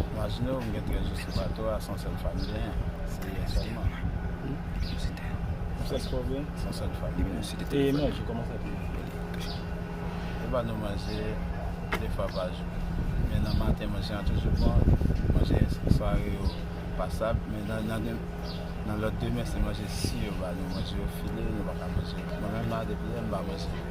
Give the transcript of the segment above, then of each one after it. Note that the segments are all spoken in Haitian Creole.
Imajinew m gen 13 jou se pa to a son sel fanm m genyen se li selman. Sa se pwoblem? Son sel fanm m genyen. E manje koman sa pou nou fè? Yo ba nou manje 2 fwa pa jou. Men nan maten manje an toujou bon, manje sware yo pasab men nan lot demen se manje si yo ba nou manje yo file nou pa ka manje. Mwen menm la depi yè m pa manje.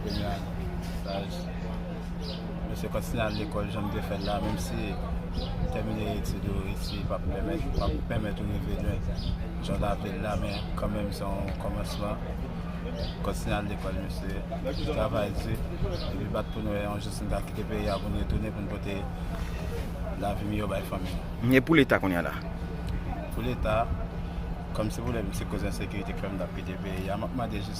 Premye ane staj, mwen se kontinye al lekòl jan m te fè l la menm si tèmine etid ou isi pa p pèmèt ou rive lwen jan w ta vle l la men kanmenm se yon kòmansman. Kontinye al lekòl mesye, travay di epi bat pou n wè yon jou si n ka kite peyi a pou n retounen pou n pote lavi miyò bay fanmi nou. E pou leta kounye a la? Pou leta, kòmsi pou lè m se koz ensekirite k fè m t ap kite peyi a, m ap mande jis.